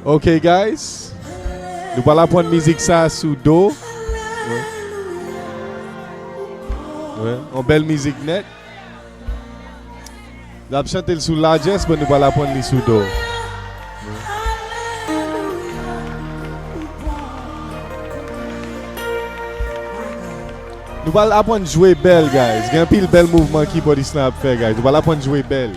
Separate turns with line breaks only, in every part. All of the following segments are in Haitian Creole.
Ok guys Nou pral aprann mizik sa sou do Yon bèl mizik nèt Nap chante l sou lajès men nou pral aprann li sou do Nou pral aprann jwe bèl guys Gen anpil bèl mouvman kibòdis lan ap fè guys Nou pral aprann jwe bèl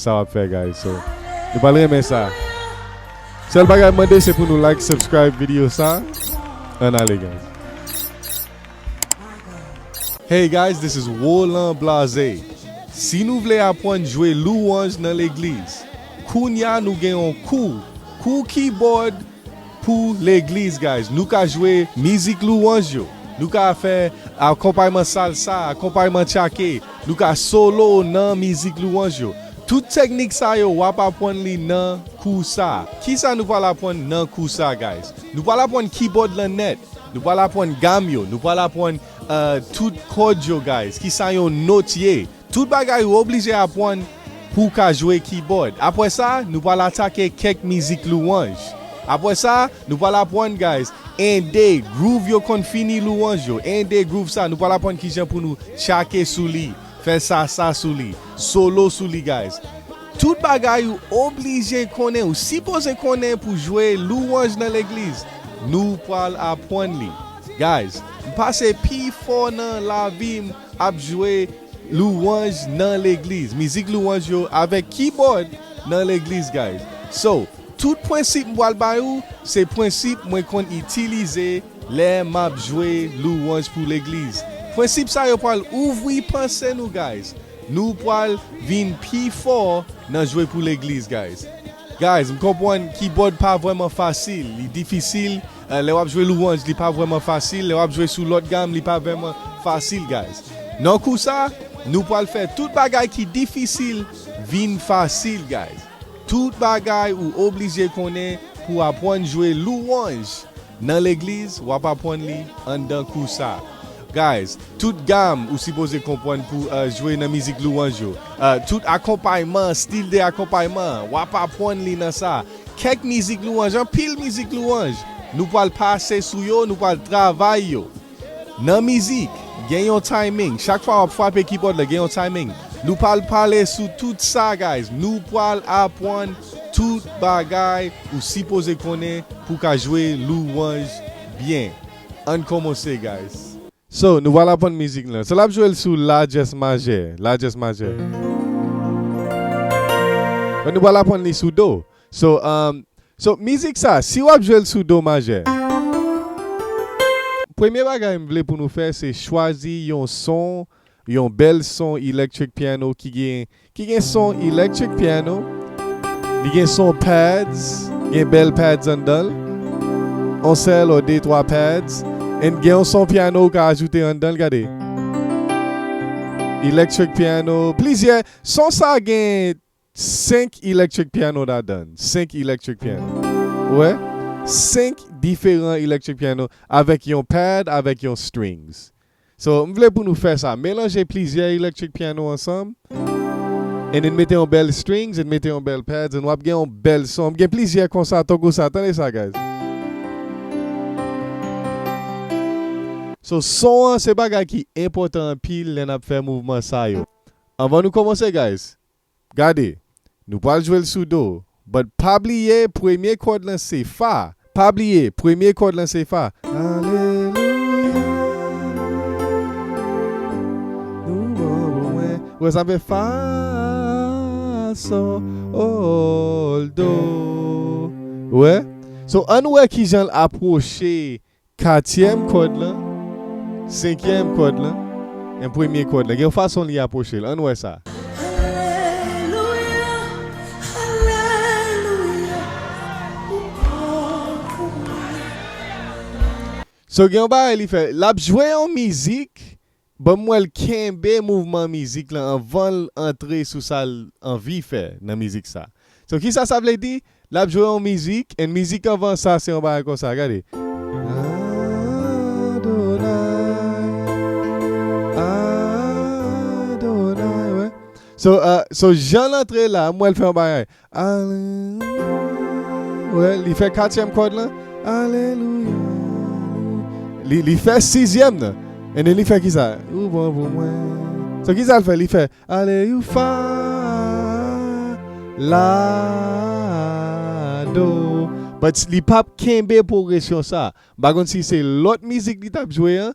sa wap fè guys so nou pral renmen sa sèl bagay mwen mande se pou nou like subscribe video sa ann ale guys. Hey guys this is Roland Blaze si nou vle apwann jwe louwanj nan legliz kounya nou gen yon kou kou keyboard Pou legliz guys nou ka jwe mizik louwanj yo nou ka fè akonpayman salsa akonpayman tchake nou ka solo nan mizik louwanj yo tout teknik sa yo wap apwann li nan kou sa kisa nou pwal apwann nan kou sa guys nou pwal apwann kibòd lan nèt nou pwal apwann gam yo nou pwal apwann tout kòd yo guys kisa yon not ye. Tout bagay ou oblije apwann pou w ka jwe kibòd. Apwè sa, nou pwal atake kèk mizik louwanj. Apwè sa, nou pwal apwann guys 1 2 groove yo konn fini louwanj yo. 1 2 groove sa, nou pwal apwann kijan pou nou tchake sou li, fè sa sa sou li, solo sou li guys. Tout bagay ou oblije konnen, ou sipoze konnen pou jwe louwanj nan legliz, nou pwal apwann li. Guys, m pase pi fò nan lavi m. Ap jwe louanj nan legliz mizik louanj yo avèk kibòd nan legliz guys so tout prensip m pral bay ou se prensip mwen konn itilize lè map jwe louanj pou legliz prensip sa yo pral ouvri panse nou guys nou pral vin pi fò nan jwe pou legliz guys guys m konpwann kibòd pa vrèman fasil li difisil Lè wap jwe louanj li pa vrèman fasil lè wap jwe sou lòt gam li pa vrèman fasil guys nan kou sa nou pwal fè tout bagay ki difisil vin fasil guys tout bagay ou oblije konnen pou apwann jwe louanj nan legliz wap apwann li anndan kou sa guys tout gam ou sipoze konpwann pou jwe nan mizik louanj yo tout akonpayman stil de akonpayman wap apwann li nan sa. Kèk mizik louwanj, anpil mizik louwanj, nou pral pase sou yo, nou pral travay yo. Nan mizik, gen yon timing, chak fwa wap frape kibòd la gen yon timing. Nou pral pale sou tout sa guys, nou pral apwann tout bagay ou sipoze konnen pou ka jwe louwanj byen. Ann komanse guys. So, nou pral aprann mizik lan. So, l ap jwe l sou La dyès majè. La dyès majè. Men nou pral aprann li sou Do. So, umm, so, mizik sa, si w ap jwe l sou Do majè. Premye bagay m vle pou nou fè se chwazi yon son, yon bèl son electric piano ki gen Ki gen son electric piano, li gen son pads, gen bèl pads anndanl, on sèl or de twa pads, and gen on son piano ou ka ajoute anndanl gade. Electric piano, plizyè, son sa gen 5 electric piano ladann, 5 electric piano. Ou wè? 5 diferan electric piano avèk yon pad avèk yon strings. So, m vle pou nou fè sa, melanje plizyè electric piano ansanm, and then mete yon bèl strings and mete yon bèl pads and wap gen yon bèl son, m gen plizyè konsa tankou sa, tande sa guys. So, son an se bagay ki enpòtan anpil lè nap fè mouvman sa yo. Anvan nou kòmanse guys, Gade, nou pral jwe l sou do, but pa bliye premye kòd lan se fa, pa bliye premye kòd lan se fa, Alelouya Nou bon pou mwen Ou wè sa m fè fa, sol, do, ou wè? So ann wè kijan l apwoche Katyèm kòd lan, senkyèm kòd lan, en premye kòd lan. Gen yon fason li apwoche l. Ann wè sa. Alelouya, alelouya, ou bon pou mwen. So gen yon bagay li fè. L ap jwe yon mizik, Banm wèl kenbe mouvman mizik lan anvanl antre sou sal anvi fè nan mizik sa so kisa sa vle di lap jwe yon mizik and mizik anvan sa se yon bagay konsa gade Adonai Adonai wè so so janl antre la m wèl fè yon bagay Alelouya Li fè katyèm kòd lan Alelouya Alelouya Li fè sizyèm nan And then li fè kisa Ou bon pou mwen So kisa l fè Li fè Aleyoufa La Do But li pap kenbe pwogresyon sa M pa konn si se lòt mizik li t ap jwe an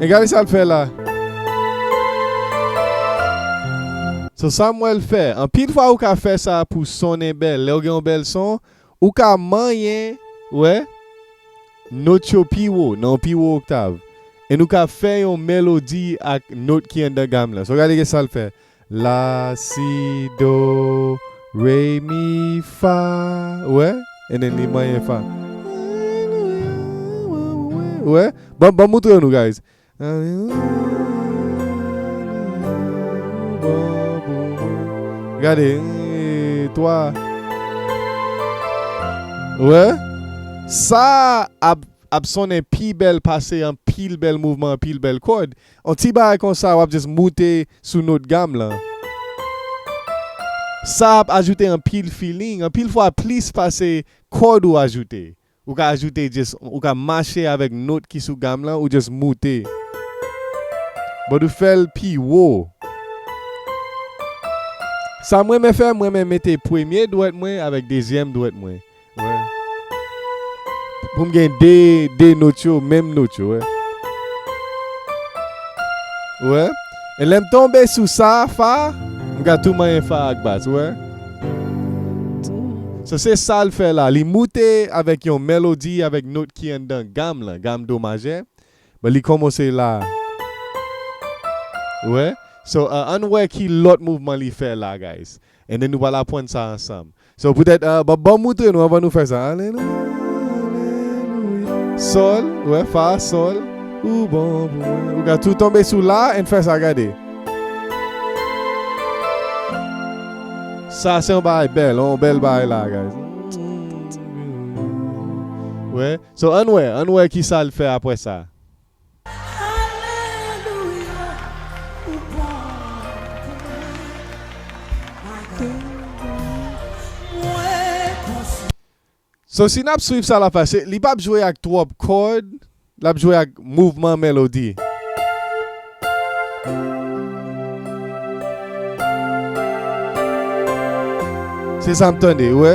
E gade sa l fè la. So sa m wè l fè. Anpil fwa ou ka fè sa pou sonnen bèl. Lè ou gen yon bèl son, ou ka manyen, wè, not yo pi wo, nan yon pi wo oktav. E nou ka fè yon melodi ak not ki anndan gam lan. So gade kisa l fè. La si do re mi fa ou wè and then li manyen fa ou wè banm banm moutre yo nou guys gade 3 ou wè sa ap ap sonnen pi bèl pase anpil bèl mouvman anpil bèl kòd On ti bagay konsa wap just moute sou not gam lan. Sa ap ajoute anpil feeling, anpil fwa plis pase kòd ou ajoute. Ou ka ajoute just, ou ka mache avèk not ki sou gam lan ou just moute. But ou fèl pi wo. Sam renmen fè, m renmen mete premye dwèt mwen avèk dezyèm dwèt mwen. Poum gen 2 2 not yo menm not yo wè. Ou wè? E lèm tonbe sou sa fa, m ka tou manyen fa ak bas ou wè. So se sal fè la, li moute avèk yon melodi avèk not ki anndan gam lan, gam do majè, men li kòmanse la. Ou wè? So ann wè ki lòt mouvman li fè la guys. Anyn nou pral apwann sa ansanm. So poutèt Bob banm moutre nou anvan nou fè sa Alelouya Sol wè fa sol Ou bon pou mwen Ou ka tou tonbe sou la ann fè sa gade Sa se yon bagay bèl yon bèl bagay la guys Wè So ann wè ann wè kisal fè apwè sa So si nap swiv sa lap pase, li pap jwe ak twòp kòd, lap jwe ak mouvman melodi. Se sam tande, ou wè?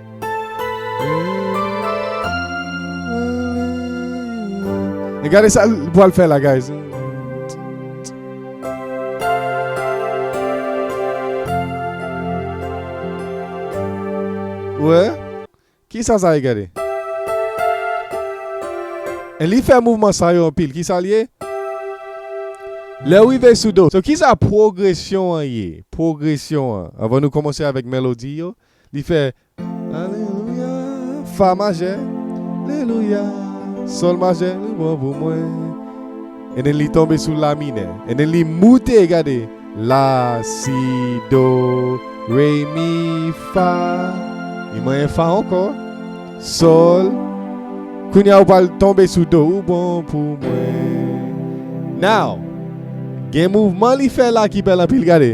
Gade sa l pral fè la guys. Wè, ki sa sa ye gade? E li fè mouvman sa yo anpil, ki sa l ye? Lè w rive sou do. So ki sa pwogresyon an ye? Pwogresyon an, anvan nou kòmanse avèk melodi yo. Li fè Alelouya Fa majè Lelouya Sol majè li bon pou mwen And then li tonbe sou la minè And then li moute gade La si do re mi fa Li manyen fa ankò Sol Kounya ou pral tonbe sou do Ou bon pou mwen Now Gen mouvman li fè la ki bèl anpil gade.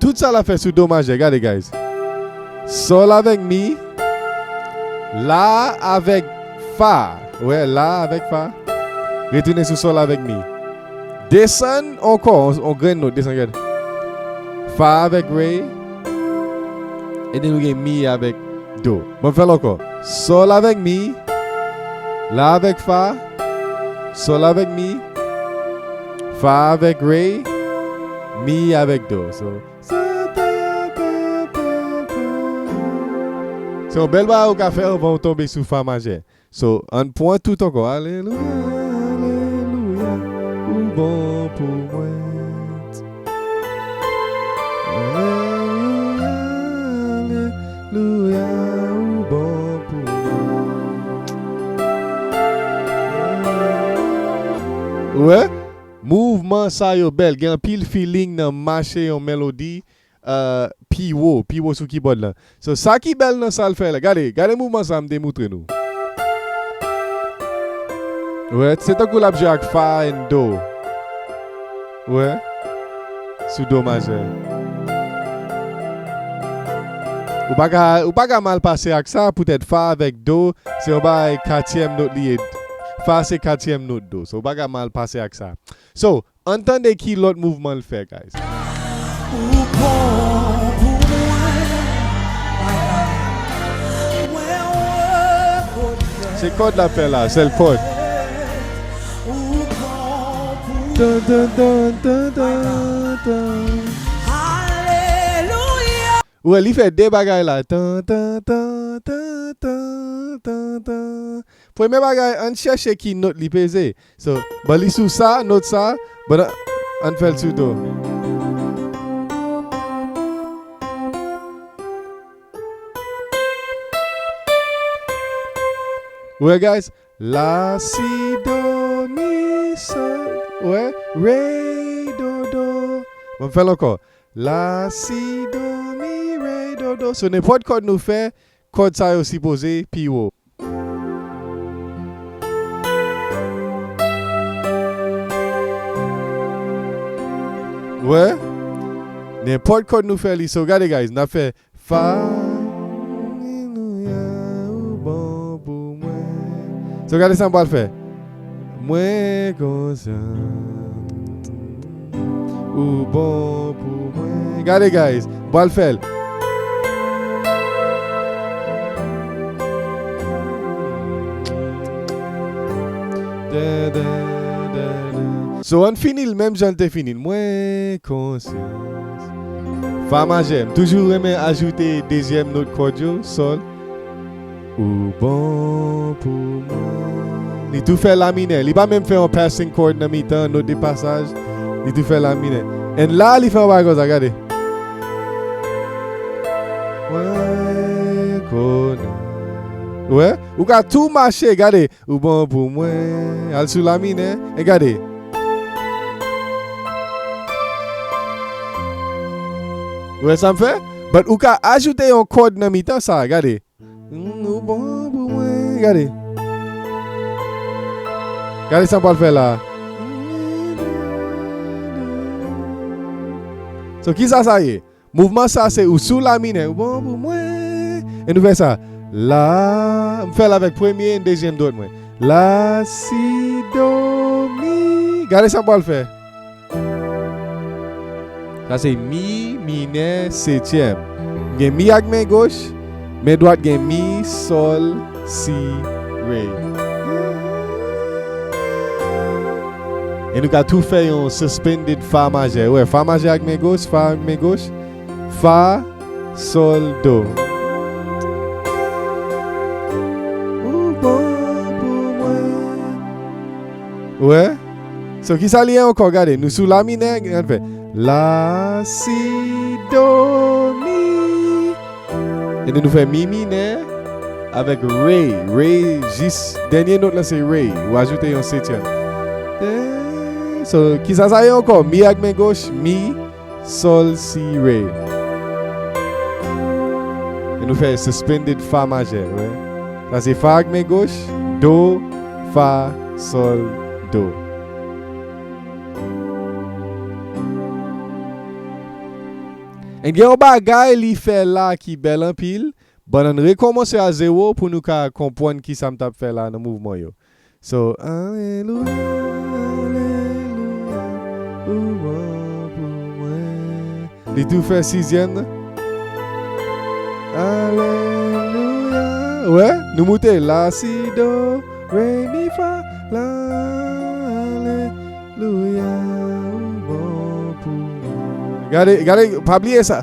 Tout sa lap fè sou do majè gade guys sol avèk mi la avèk fa wè la avèk fa retounen sou sol avèk mi desann ankò on grenn not desann gad fa avèk re epi nou gen mi avèk do. Bon m fè l ankò Sol avèk mi La avèk fa Sol avèk mi Fa avèk re Mi avèk do So sa ta ta ta ta Se yon bèl bagay ou ka fè anvan ou tonbe sou fa majè So ann pwan tout ankò alelouya alelouya ou bon pou mwen t alelouya alelouya ou bon pou mwen t alelouya. Ou wè? Mouvman sa yo bèl, gen anpil feeling nan mache yon melodi piwo piwo sou kibòd lan so sa ki bèl nan sal fè la gade gade mouvman sa mte moutre nou wè se tankou lap jwe ak fa and do wè sou do majè ou paka ou paka mal pase ak sa poutèt fa avèk do se yon bagay katyèm not li ye fa se katyèm not do so ou paka mal pase ak sa so Ann tande ki lòt mouvman l fè guys. Ou bon pou mwen Papa Mwen rekonèt Se kòd lap fè la sèl kòd. Ou bon pou mwen Alelouya. Ou wè li fè 2 bagay la tantantantantantantan premye bagay ann chèche ki not li peze So ban li sou sa not sa but ann fèl sou do. Ou wè guys la si do mi so ou wè re do do m'en fèl ankò la si do mi re do do so nenpòt kòd nou fè Kòd sa yo sipoze pi wo. Wè nenpòt kòd nou fè li so gade guys nap fè fa alelouya ou bon pou mwen so gade sa m pral fè. Mwen konsyan ou bon pou mwen. Gade guys, bwal fèl. So ann finil menm jan te finil. Mwen konsyan. Fa majè. M toujou renmen ajoute dezyèm not kòd yo, sol. Ou bon pou mwen. Li tou fè la minè. Li pa menm fè yon passing chord nan mitan, not de pasaj. Li tou fè la minè. And la li fè yon bagay konsa, gade. Mwen konnen. Ou wè? Ou ka tou mache, gade. Ou bon pou mwen. Al sou la minè. E gade. Ou wè sa m fè? But ou ka ajoute yon chord nan mitan sa, gade. Ou bon pou mwen Gade Gade sa m pral fè la So kisa sa ye? Mouvman sa se ou sou la minè Ou bon pou mwen E nou fè sa La M fè l avèk premye e dezyèm dwèt mwen La si do mi Gade sa m pral fè Sa se mi minè setyèm. M gen mi ak men goch, men dwat gen mi, sòl, si, re. E nou ka tou fè yon suspended fa majè. Ou wè, fa majè ak men goch, fa ak men goch, fa, sòl, do. Ou bon pou mwen. Ou wè? So kisa li ye ankò gade nou sou la minè gade fè la si do mi epi nou fè mi minè avèk re re jis dènye not la se re ou ajoute yon setyèm so kisa sa ye ankò mi ak men goch mi. Sol si re. E nou fè suspended fa majè wè. Sa se fa ak men goch, do, fa, sol, do. En gen yon bagay li fè la ki bèl anpil, bannan rekòmanse a zewo pou nou ka konpwann kisa m tap fè la nan mouvman yo. So alelouya alelouya ou bon pou mwen. Li tou fè sizyèm nan. Alelouya wè nou moute la si do re mi fa la alelouya ou bon pou mwen. Gade gade pa bliye sa.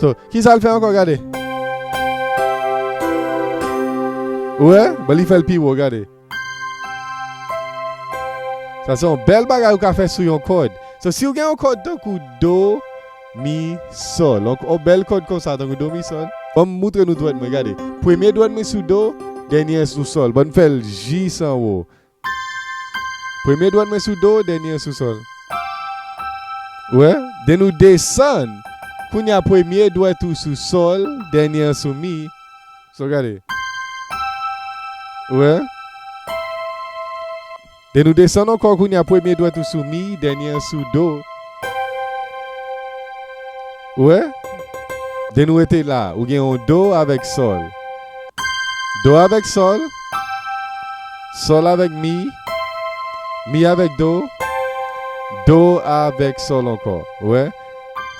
So, kisa l fè ankò gade? Ou wè? Bon li fè l pi wo, gade. Sa se yon bèl bagay ou ka fè sou yon kòd. So, si ou gen yon kòd tankou do, mi, sòl. Yon bèl kòd konsa tankou do, mi, sòl. Ban m moutre nou dwèt mwen, gade. Premye dwèt mwen sou do, dènye an sou sòl. Bon m fè l jis anwo. Premye dwèt mwen sou do, dènye an sou sòl. Ou wè? Den nou desann. Kounye a premye dwèt ou sou sòl, dènye an sou mi. So gade. Ou wè? Den nou desann ankò kounye a premye dwèt ou sou mi, dènye an sou do. Ou wè? De nou rete la, ou gen yon do avèk sòl. Do avèk sòl. Sòl avèk mi. Mi avèk do. Do avèk sòl ankò. Ou wè?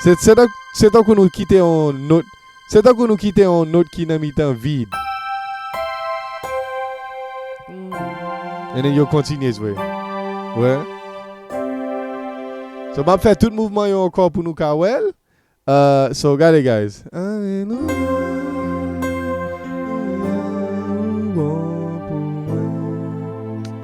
Se tankou nou kite yon nòt. Se tankou nou kite yon nôt ki nan mitan vid. E nèg yo kontinye jwe. Wè. So m ap fè tout mouvman yo ankò pou nou ka wè l. So gade guys.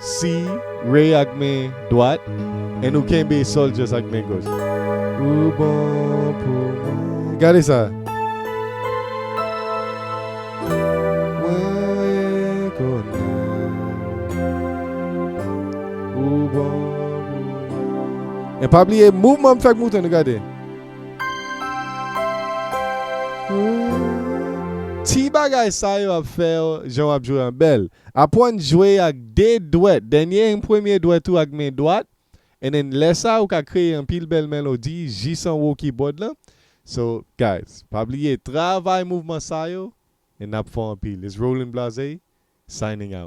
Si Ray ak men dwat and ou kenbe Soldiers ak men goch. Ou bon pou mwen. Gade sa! Mwen rekonnen ou bon pou mwen. And pa bliye mouvman m fè ak mouton nou gade. Ti bagay sa yo ap fè w jan w ap jwe an bèl. Apwann jwe ak 2 dwèt, dènye en premye dwèt ou ak men dwat, and then lè sa ou ka kreye anpil bèl melodi jis anwo kibòd lan, so guys pa bliye travay mouvman sa yo and nap fò anpil it's Roland Blaze signing out.